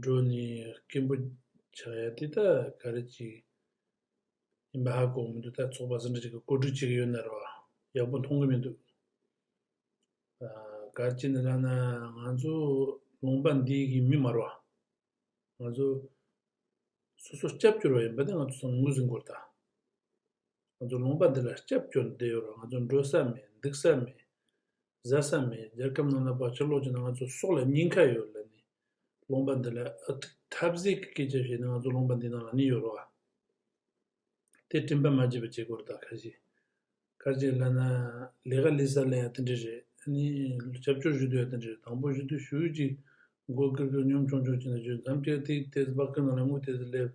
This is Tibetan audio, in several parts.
འགྲོ་ནི་སྐྱེན་པོ་ཕྱག་གཡས་ཏི་ད་ག་རེ་གཅིག། ཡིན་པ་ཧ་གོ་མི་འདུག་ད་ཚོགས་པ་ཟིན་བྲིས་གཅིག་གི་བཀོད་སྒྲིག་བྱེད་ཀྱི་ཡོད་ནར་བ་ཡག་པོ་མཐོང་གི་མི་འདུག། ག་རེ་གཅིག་ནི་ལབ་ན་ང་ཚོ་ལུང་པ་འདི་གི་མི་མར་བ། ང་ཚོ་སོ་སོ་སྐྱབས་གྱུར་བ་ཡིན་པ་ནི་ང་ཚོ་ཚང་མ་ངོས་ཟིན་དགོས་རེད་ད། ང་ཚོ་ལུང་པ་འདི་ལ་སྐྱབས་བཅོལ་དུ་བསྡད་ཡོད་རུང་ང་ཚོ་འགྲོ་ས་མེད་འདུག་ས་མེད། བཟའ་ས་མེད་རྒྱལ་ཁབ་ནང་ལ་བག་ཆགས་ལོག་ཀྱིན་ན་ང་ཚོ་སྲོག་ལ་སྙིང་ཁ་ཡོད་ལ་ནི། ལུང་པ་འདི་ལ་ཨ་ཐུག་ཐབས་ཟད་ཀྱི་སྐད་ཆ་བཤད་ན་ང་ཚོ་ལུང་པ་འདི་ནང་ལ་ནི་ཡོད་རུང་ཨ། དེ་སྤྲིན་པ་མ་བརྗེད་པ་བྱེད་དགོས་རེད་ད་ཁ་ཞེ། ཁ་ཅིག་ལ་ན་ལས་ཀ་ལས་ས་ལ་ཡང་དེ་འདྲ་རེད་ཨ་ནི་སྐྱབས་བཅོལ་ཞུ་དུས་ཡང་དེ་འདྲ་རེད་དང་པོ་ཞུ་དུས་ཞུ་ཡུལ་གྱི་མགོ་སྐེར་སྐེར་གཉོམ་ཆུང་ཆུང་བྱས་ན་བྱོས་མཚམས་བཅད་ཐིག་དེ་ཚོ་བག་ཁུ་ནང་ལ་རྔུ་དེ་ཚོ་སླེབས།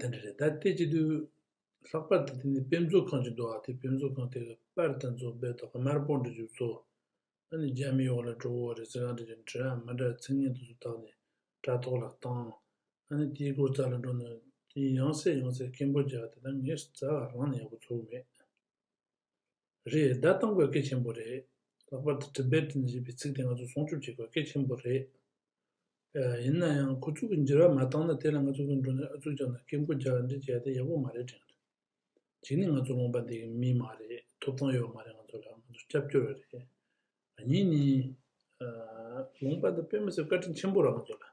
དེ་འདྲ་རེད་ད་ལྟའི་ཆེད་དུ། ལྷག་པར་དུ་དེ་ནས་དཔེ་མཛོད་ཁང་ཅིག་འདུག་ཨ་དེ་དཔེ་མཛོད་ཁང་དེ་ག་པར་དང་མཚུངས་དཔེ་ཐོག་ག་མར་པོ་འདྲ་བྱུགས་ཚོ། ཨ་ནི་རྒྱ་མི་ཡོག་ལ་གྲོ་བོ་རེ་ཟེར་གང་འདྲ་ཅིག་འདྲ་ཨ་མ་འདྲ་ཚིག་ངན་དུ་སུ་བཏགས་ནས་དྲ་ཐོག་ལ་བཏང། ཨ་ནི་དེའི་སྐོར་རྩ་ལ་འགྲོ་ན། དེ་ཡང་སྲས་ཡང་སྲས་སྐད་འབོད་རྒྱག་དེ་ད་ངས་རྩ་ག་རང་ནས་ཡག་པོ་ཚོར་གི་མེད། རེད་བདའ་གཏང་དགོས་གལ་ཆེན་པོ་རེད། ལྷག་པར་དུ་བྲིམ་པའི་བྲིམ་ཞེས་པའི་ཚིག་དེ་ང་ཚོས་སྲུང་སྐྱོབ་བྱེད་དགོས་གལ་ཆེན་པོ་རེད། ཡིན་ན་ཡང་ཁོ་ཚུགས་ཀྱི་འགྱུར་བ་མ་བཏང་ན་དེ་ལ་ང་ཚོ་ཀུན་འགྲོ་ནས་ཨ་ཚུགས་རྒྱག་ན་སྐད་མགོ་རྒྱག་འདྲེ་བྱས་ཏེ་ཡག་པོ་མ་རེད་དྲན་གི་རེད། གཅིག་ནི་ང་ཚོ་རློམ་པ་འདེགས་ཡུལ་མི་མ་རེད་ཐོབ་ཐང་ཡོད་མ་རེད་ང་ཚོ་ལ་ང་ཚོ་སྐྱབས་བཅོལ་བ་རེད། གཉིས་ནི། ལུང་པ་དང་དཔོན་མི་ཚོས་བཀའ་དྲིན་ཆེན་པོ་རང་ཚོ་ལ།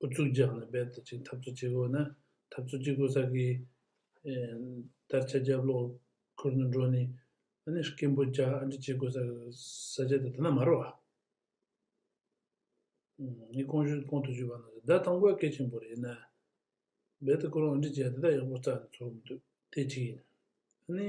ཨུ་ཚུགས་རྒྱག་ནས་རྦད་དེ་ཅིག་འཐབ་རྩོད་བྱེད་དགོས་ན། འཐབ་རྩོད་བྱེད་དགོས་ས་ཀྱི་དར་ཆ་རྒྱབ་ལོག་ཁུར་ནས་འགྲོ་ནི། ཨ་ནི་སྐད་འབོད་རྒྱག་ཨ་འདྲི་བྱེད་དགོས་ས་ས་ཆ་དེ་དེ་ན་མ་རོ། ངས་ཀོང་ཞུས་ཀོང་དུ་ཞུས་པ་ནང་བཞིན་ཟླ་དང་པོའི་སྐད་ཆེན་པོ་རེད་ན། རྦད་དེ་ཁོ་རང་ཨ་འདྲི་བྱས་དེ་དག་ཡག་པོ་བརྩགས་ནས་འཚོ་གི་མི་འདུག་དེ་གཅིག་ཡིན། ཨ་ནི།